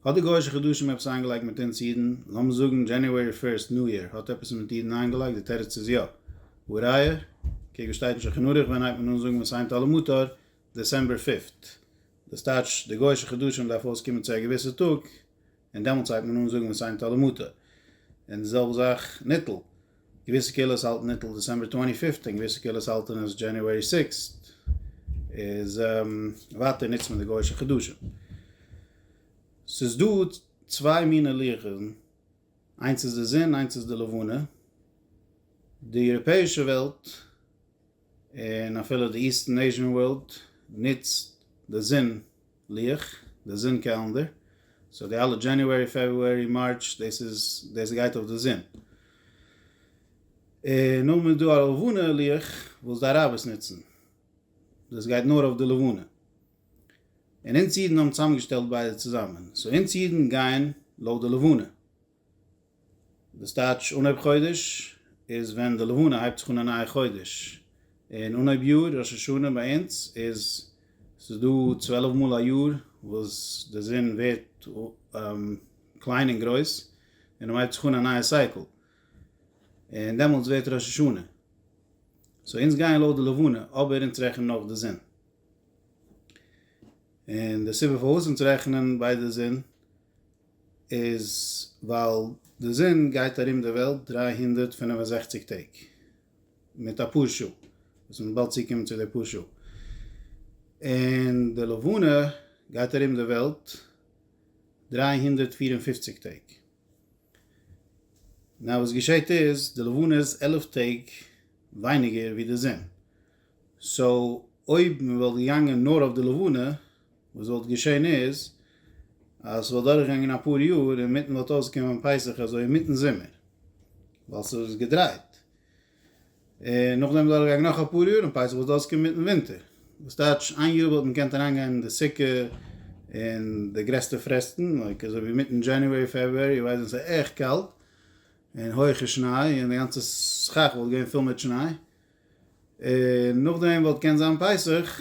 האט די גוישע חדשים עפעס איינגעלייגט מיט אונז אידן? לאמיר זאגן דזשעניוערי פירסט ניו יער האט עפעס מיט אידן איינגעלייגט? די תירוץ איז יא. והא ראיה, קוק וואס שטייט אין שולחן ערוך ווען הייבט מען אן זאגן מסיימת אל המותר דעסעמבער פיפט. דאס טייטש די גוישע חדשים דארף אויסקומען צו א געוויסע טאג און דעמאלטס הייבט מען אן זאגן מסיימת אל המותר. און די זעלבע זאך ניטל. געוויסע קהילות האלטן ניטל דעסעמבער טווענטי פיפט און געוויסע קהילות האלטן עס דזשעניוערי סיקסט, איז ווייטער נוצט מען די גוישע חדשים. ס'איז דא צוויי מיני לוחות'ן, איינס איז די זון איינס איז די לבנה, די יוראפעישע וועלט און אפילו די איסטערן עיזשען ווארלד נוצט די זון לוח, די זון קעלענדער, סאו די אלע דזשעניוערי פעברוארי מארטש דאס איז דאס גייט אויף די זון, און נאכדעם איז דא א לבנה לוח וואס די אראבערס נוצן, דאס גייט נאר אויף די לבנה, און אונז אידן האבן צוזאמגעשטעלט ביידע צוזאמען, סאו אונז אידן גייען לויט די לבנה, דאס טייטש אנהויב חודש איז ווען די לבנה הייבט זיך אן א נייע חודש, און אנהויב יאר, ראש השנה ביי אונז איז ס'איז דא צוועלף מאל א יאר וואס די זון ווערט קליין און גרויס און מען הייבט זיך אן א נייע סייקל, און דעמאלטס ווערט ראש השנה. סאו אונז גייען לויט די לבנה אבער אונז רעכענען נאך די זון. און די סיבה פארוואס אונז רעכענען ביי די זון איז ווייל די זון גייט ארום די וועלט דרײַ הונדערט פֿינף און זעכציק טעג מיט א פאר שעה וואס מען וועט באלד צוקומען צו די פאר שעה, און די לבנה גייט ארום די וועלט דרײַ הונדערט פֿיר און פֿופֿציק טעג. נאר וואס געשעהט איז די לבנה איז עלף טעג ווייניגער ווי די זון, סאו אויב מען וואלט געגאנגען נאר אויף די לבנה וואס וואלט געשען איז אז ס'וואלט דורכגעגאנגען אפאר יאר און אינמיטן וואלט אויסגעקומען פסח אזוי אינמיטן זומער, ווייל ס'וואלט זיך געדרייט, און נאכדעם איז דורכגעגאנגען נאך אפאר יאר און פסח וואלט אויסגעקומען אינמיטן ווינטער, וואס טייטש איין יאר וואלט מען געקענט אריינגיין אין די סוכה אין די גרעסטע פרעסטן, לייק אזוי ווי אינמיטן דזשעניוערי פעברוארי איר ווייסט ווען ס'איז עכט קאלט און הויכע שניי און די גאנצע סכך וואלט געווען פול מיט שניי, און נאכדעם וואלט געקענט זיין פסח.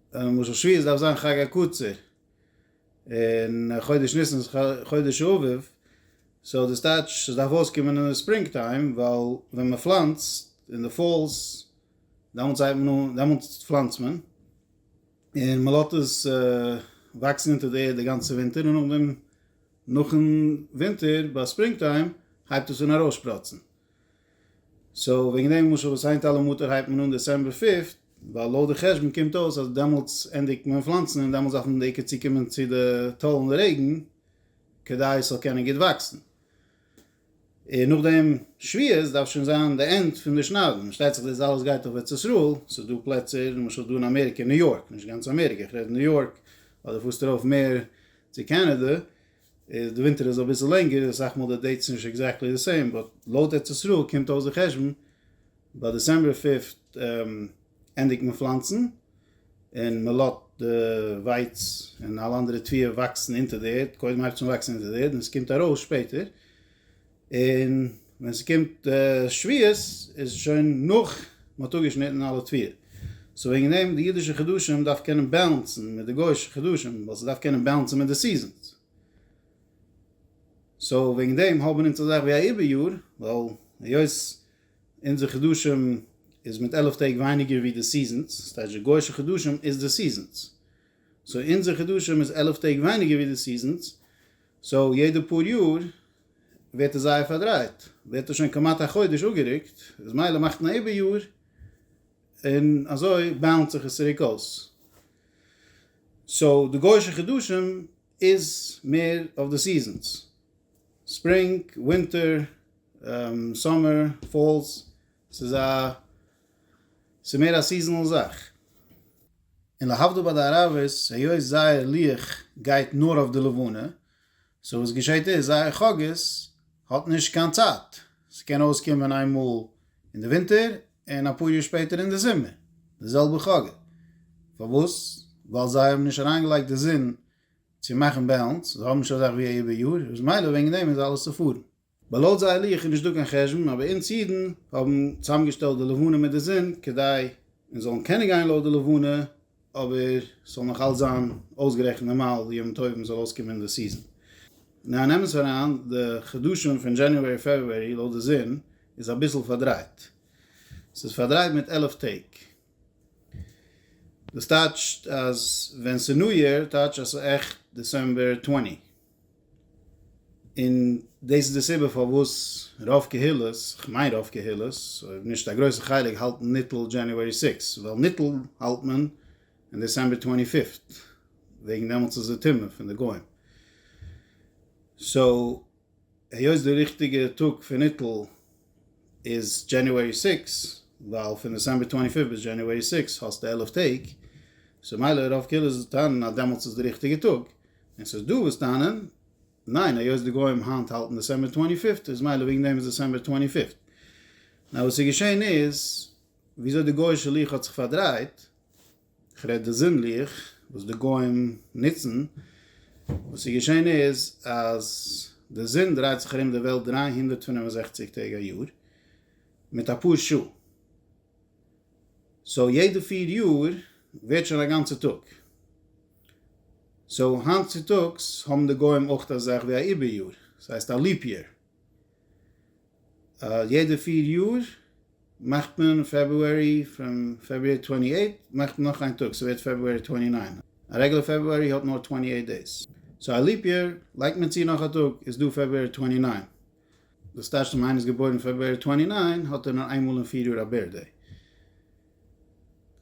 און משל שביעית דארף זיין חג הקצר און חודש ניסן איז חודש האביב סאו דאס טייטש עס דארף אויסקומען אין די ספרינג טיים ווייל ווען מען פלאנצט אין די פאלס דעמאלטס זייט מען אן דעמאלטס פלאנצט מען און מען לאזט עס וואקסן אונטער די ערד די גאנצע ווינטער און נאכדעם נאכן ווינטער ביי ספרינג טיים הייבט עס אן ארויסשפראצן סאו וועגן דעם למשל וואס היינט אלע מטר הייבט מען אן דעצעמבער פיפט, ווייל לויט די חשבון קומט אויס אז דעמאלטס ענדיגט מען פלאנצן און דעמאלטס דארף מען בעיקר צוקומען צו די טאלן די רעגן כדי עס זאל קענען גוט וואקסן, און נאכדעם שביעית דארף שוין זיין די ענד פון די שניידן, פארשטייט זיך דאס אלעס גייט אויף ארץ ישראל, ס'איז דא פלעצער למשל דא אין אמעריקע ניו יארק, נישט גאנץ אמעריקע, איך רעד ניו יארק, אדער פארסט ארויף מער צו קענעדע, די ווינטער איז אביסל לענגער, אסאך מאל די דעיטס נישט עקזעקטלי די סעים, באט לויט ארץ ישראל קומט אויס די חשבון ביי דעסעמבער פיפט ענדיגט מען פלאנצן, און מען לאט די ווייץ און אלע אנדערע תביעות וואקסן אונטער די ערד, קודם הייבט עס אן וואקסן אונטער די ערד און עס קומט ארויס שפעטער. און ווען ס'קומט שביעות איז שוין נאך מ'האט אפגעשניטן אלע תפילה, סאו וועגן דעם די אידישע חדשים דארף קענען בעלענסן מיט די גוי'אישע חדשים, ווייל ס'דארף קענען בעלענסן מיט די סיזענס, סאו וועגן דעם האבן אונז אזאך ווי א איבער יאר, ווייל היות אונזער חדשים איז מיט עלף טעג ווייניגער ווי די סיזענס, ס'טייטש די גוי'אישע חדשים איז די סיזענס, סאו אונזער חדשים איז עלף טעג ווייניגער ווי די סיזענס, סאו יעדע פאר יאר ווערט עס זייער פארדרייט, ווערט עס שוין כמעט א חודש אפגערוקט, איז מילא מאכט מען איבער יאר, און אזוי באלאנסט זיך עס צוריק אויס. סאו די גוישע חדשים איז מער אויף די סיזענס, ספרינג, ווינטער, סאמער, פאלס, ס'איז א ס'איז מער א סיזענעל זאך. און להבדיל ביי די ערבות היות זייער לוח גייט נאר אויף די לבנה, סאו וואס געשעהט איז זייער חגית האט נישט קיין צייט, ס'קען אויסקומען איין מאל אין די ווינטער און אפאר יאר שפעטער אין די זומער די זעלבע חגי. פארוואס? ווייל זיי האבן נישט אריינגעלייגט די זון צו מאכן בעלענס, זיי האבן נישט אזאך ווי א איבער יאר, אז מילא וועגן דעם איז אלעס צופארן. בה לויט זייער לוח איז נישט דא קיין חשבון אבער אונז אידן האבן צוזאמגעשטעלט די לבנה מיט די זון כדי אונז זאלן קענען גיין לויט די לבנה אבער ס'זאל נאך אלץ זיין אויסגערעכנט נארמאל די ימים טובים זאל אויסקומען די סיזען. ניין נעם עס אריין די חדשים פון דזשעניוערי פעברוערי לויט די זון איז אביסל פארדרייט ס'איז פארדרייט מיט עלף טעג דאס טייטשט אז ווען ס'ניו יער טייטש אז ס'איז עכט דעסעמבער טווענטי. און דאס איז די סיבה פארוואס רוב קהילות, כ'מיין רוב קהילות, אויב נישט א גרויסע חלק האלטן ניטל דזשעניוערי סיקס, ווייל ניטל האלט מען און דעסעמבער טווענטי פיפט, וועגן דעמאלטס איז די טומאה פון די גוים. סאו היות די ריכטיגע טאג פון ניטל איז דזשעניוערי סיקס, ווייל פון דעסעמבער טווענטי פיפט ביז דזשעניוערי סיקס האסטו עלף טעג, סאו מילא רוב קהילות טענה'ן אז דעמאלטס איז די ריכטיגע טאג, און ס'איז דא וואס טענה'ן, ניין היות די גוים היינט האלטן דעסעמבער טווענטי פיפט איז מילא וועגן דעם איז דעסעמבער טווענטי פיפט. נאר וואס איז געשען איז, וויאזוי די גוי'אישע לוח האט זיך פארדרייט, כ'רעד די זון ליכט וואס די גוים נוצן, וואס איז געשען איז אז די זון דרייט זיך ארום די וועלט דרײַ הונדערט פֿינף און זעכציק טעג א יאר מיט אפאר שעה, סאו יעדע פֿיר יאר ווערט שוין א גאנצע טאג, סאו היינט צוטאגס האבן די גוים אויך אזאך ווי א איבער יאר, ס'הייסט א ליפ יאר. יעדע פֿיר יאר מאכט מען פעברוארי פון פעברואר טווענטי עיט מאכט מען נאך איין טאג ס'ווערט פעברואר טווענטי ניין א רעגולער פעברוארי האט נאר טווענטי עיט דעיס סאו א ליעפ יאר לייגט מען צו נאך א טאג איז דא פעברואר טווענטי ניין דאס טייטשט אז אם איינער איז געבוירן פעברואר טווענטי ניין האט ער נאר איינמאל אין פֿיר יאר א בירטדעי.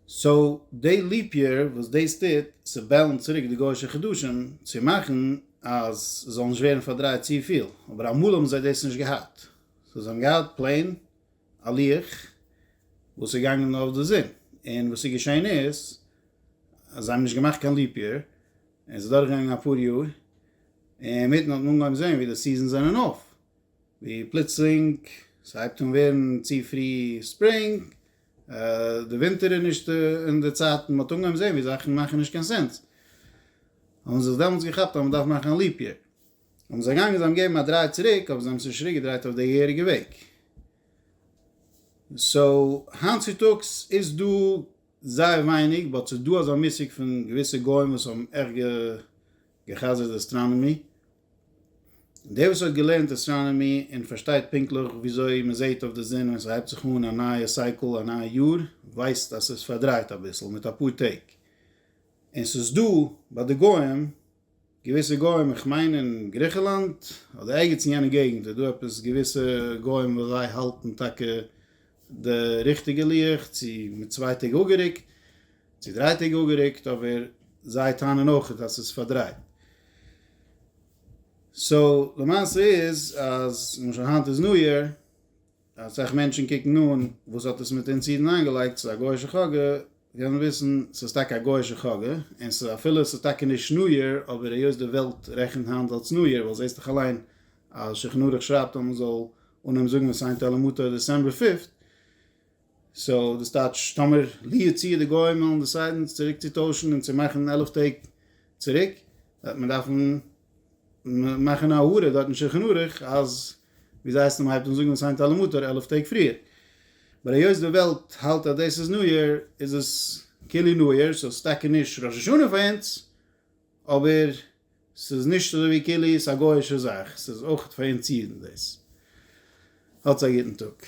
סאו דעי ליפ יער וואס דאס טוט, ס'בעלן צוריק די גויאישע חדשים צו מאכן אז ס'זאל נישט ווערן פארדרייט צופיל, אבער אמאל האבן זיי דאס נישט געהאט, סאו זיי האבן געהאט פלעין א לוח וואס איז געגאנגען נאר אויף די זון, און וואס איז געשען איז אז זיי האבן נישט געמאכט קיין ליפ יער, און ס'איז דורכגעגאנגען אפאר יאר, אינמיטן האט מען אנגעהויבן זען ווי די סיזענס זענען אויף, ווי פלוצלינג ס'הייבט אן ווערן צו פרי ספרינג, די ווינטער איז נישט אין די צייטן, מ'האט אנגעהויבן זען ווי זאכן מאכן נישט קיין סענס, האבן זיי זיך דעמאלטס געכאפט אז מ'דארף מאכן א ליפ יער, האבן זיי געגאנגען זיי האבן געגעבן א דריי צוריק אבער זיי האבן זיך נישט צוריק געדרייט אויף די געהעריגע וועג. סאו היינט צוטאגס איז דא זייער ווייניג באט ס'איז דא אזא מושג פון געוויסע גוים וואס האבן עכט גע'חזר'ט אסטראנאמי, דער וואס האט געלערנט אסטראנאמי און פארשטייט פונקטליך וויאזוי מען זעהט אויף די זון ווען ס'הייבט זיך אן א נייע סייקל א נייע יאר ווייסט אז ס'איז פארדרייט אביסל מיט אפאר טעג און ס'איז דא ביי די גוים געוויסע גוים איך מיין אין גריכעלאנד אדער ערגעץ אין יענע געגענט איז דא עפעס געוויסע גוים וואס זיי האלטן טאקע די ריכטיגע לוח צו מיט צוויי טעג אפגערוקט. צו דריי טעג אפגערוקט אבער זיי טענה'ן אויכעט אז ס'איז פארדרייט. סאו למעשה איז אז למשל היינט איז ניו יער אסאך מענטשן קוקן אן וואס האט עס מיט אונז אידן איינגעלייגט ס'איז א גוי'שע חאגע וועלן וויסן ס'איז טאקע א גוי'שע חאגע און ס'איז אפילו ס'איז טאקע נישט ניו יער אבער היות די וועלט רעכנט היינט אלס ניו יער ווייל זעסט דאך אליין אז שולחן ערוך שרייבט אז מ'זאל אנהויבן זאגן וואס היינט אלעמוטא איז דעסעמבער פיפט. סאו דאס טייטש טאמער לו יצוייר די גוים וועלן דעסיידן צוריק צו טוישן און צו מאכן עלף טעג צוריק וועט מען דארפן מאכן א הוראה דארט אין שולחן ערוך אז ווי זיי הייסן מען הייבט אן זאגן וואס היינט אלעמאל טאר עלף טעג פריער באט היות די וועלט האלט אז דאס איז ניו יאר איז עס כאילו ניו יאר סאו ס'איז טאקע נישט ראש השנה פאר אונז אבער ס'איז נישט אזוי ווי כאילו איז א גוי'אישע זאך ס'איז אויך פאר אונז אידן דאס האטס א גוטן טאג.